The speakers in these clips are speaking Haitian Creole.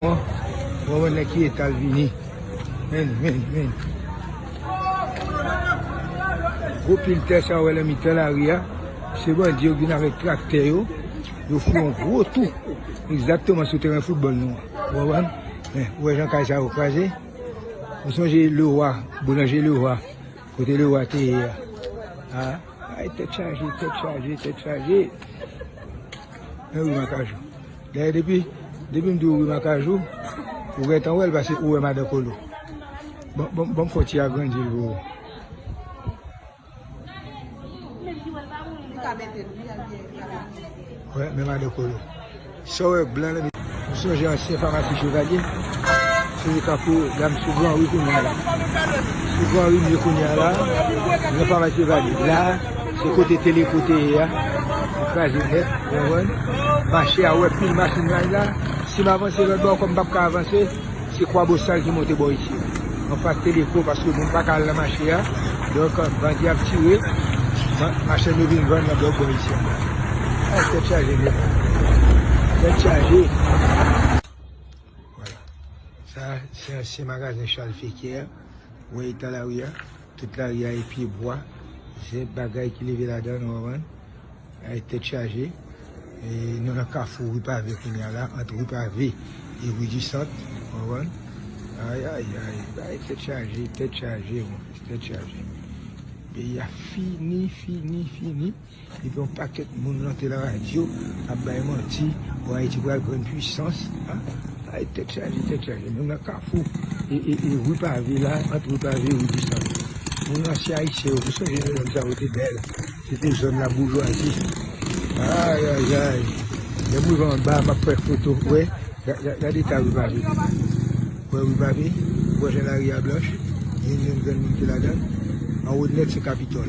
Bon wè ki etal vini menn menn menn gwo pil tè sa wè nan mitan lari a se bandi yo vin avèk traktè yo yo fè yon gwo tou egzakteman sou teren foutbòl nou an ou konprann men ou wè jan kay sa yo kraze ou sonje Lewa boulanje Lewa kote Lewa te ye a aa kay tèt chaje tèt chaje tèt chaje men wi makajou. Dayè depi depim diw wi makajou ou gentan wèl pase ou wè madan kolo banm fò ti agrandil pou ou. Wè men madan kolo sa wè blan lan. M sonje ansyen famasi chevalier se li kap pou dam sou gran ri kounya la sou gran ri m ye kounya la nan famasi chevalier la. Se kote teleko te ye a li kraze nèt ou konprann, mache a wè pil machin nan la, si m avanse lòt bò kòm m pap ka avanse se kwabosal ki monte bò isit anfas teleko paske moun paka al nan mache a donk bandi ap tire machann yo vin vann nan lòt bò isit ankò ah tèt chaje nèt tèt chaje wala sa se ansyen magazen chal fekyè wè eta lari a. Tout lari a e pye bwa, se bagay ki leve ladan nou konprann, e tèt chaje, e nou nan kafou ri pave kounya la, ant ri pave e ri di sant ou konprann, ayayay bagay tèt chaje, tèt chaje, tèt chaje, peyi a fini, fini, fini. Depi yon pakèt moun rantre la radyo ap bay manti bon ayiti pral grenn pwisans ay tèt chaje tèt chaje nou nan kafou ri pave la ant ri pave ri disan moun ansyen ayisyen yo ki sonje lè zòn sa yo te bèl se te zòn la boujwazi ayayay lèm rive anba map fè foto wè gad eta ri pave yo wè ri pave wè jan lari a blanch gen yon grenn moun ki ladann anwo nèt se kapitòl.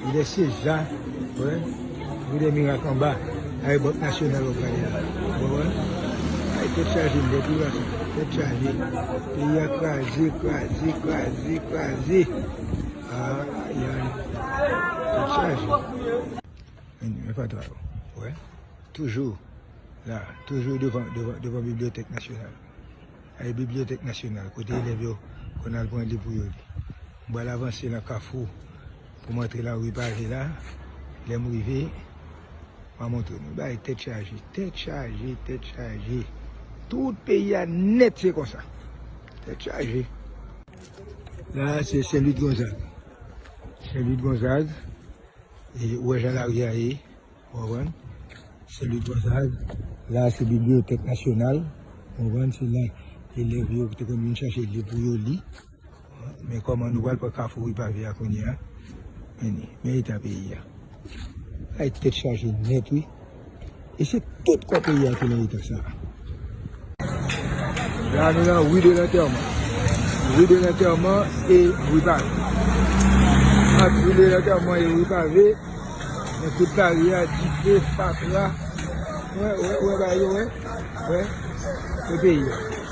Lidè CEJA wè Lidè mirak anba Ay bank nasyonal wap gade la ou konprann Ay tèt chaje m tèt mirak sa tèt chaje peyi a kraze kraze kraze kraze Ay Ay tèt chaje Anyn men fatra yo ou wè toujou la toujou devan devan devan bibliyotèk nasyonal Ay bibliyotèk nasyonal kote elèv yo konn al pran liv pou yo li m pral avanse nan kafou. Pou m antre la rue pave la lè m rive m a montre nou bagay tèt chaje tèt chaje tèt chaje tout peyi a nèt se konsa tèt chaje la a se Saint Louis de Gonzague Saint Louis de Gonzague e ou wè jan la rue a ye ou konprann Saint Louis de Gonzague la a se bibliothèque nationale ou konprann se la elèv yo te konn vin chache liv pou yo li. Men kòman nou pral pran kafou Ripavye a kounye a. Anyway, men eta peyi a. Bagay tèt chaje nèt wi. E se tout kò peyi a ki nan eta sa a. La nou nan Rue de l'Enterrement. Rue de l'Enterrement e Rue Pavée. Ant Rue de l'Enterrement e Rue Pavée, nan tout lari a, dife, fatra. Ou wè, ou wè, ou wè bagay yo, ou wè. Ou wè, se peyi a.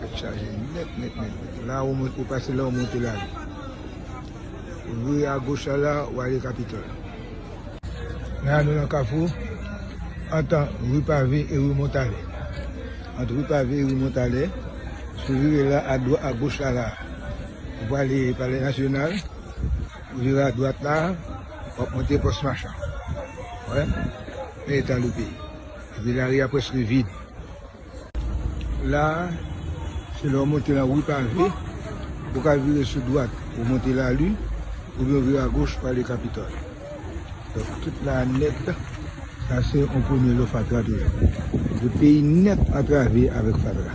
Tèt chaje nèt nèt nèt. La ou mwen ou pase la ou monte la. Ou vire a goch la la ou ale Capitol. La nou nan kafou antan ri pave e ri Montalè. Ant ri pave e ri Montalè. Si ou vire la a dwa a goch la la ou pale palè nasyonal. Ou vire a dwat la ou ap monte pòs machan. Ou wè? Men eta nou peyi. Epi lari a prèske vid. La a, se lè ou monte nan ri pave, ou ka vire sou dwat pou w monte Lalin, oubyen ou vire agoch pou ale Kapitòl. Donk, tout la a nèt, sa se yon premye lè fatra toujou. Tout peyi nèt antrave avèk fatra.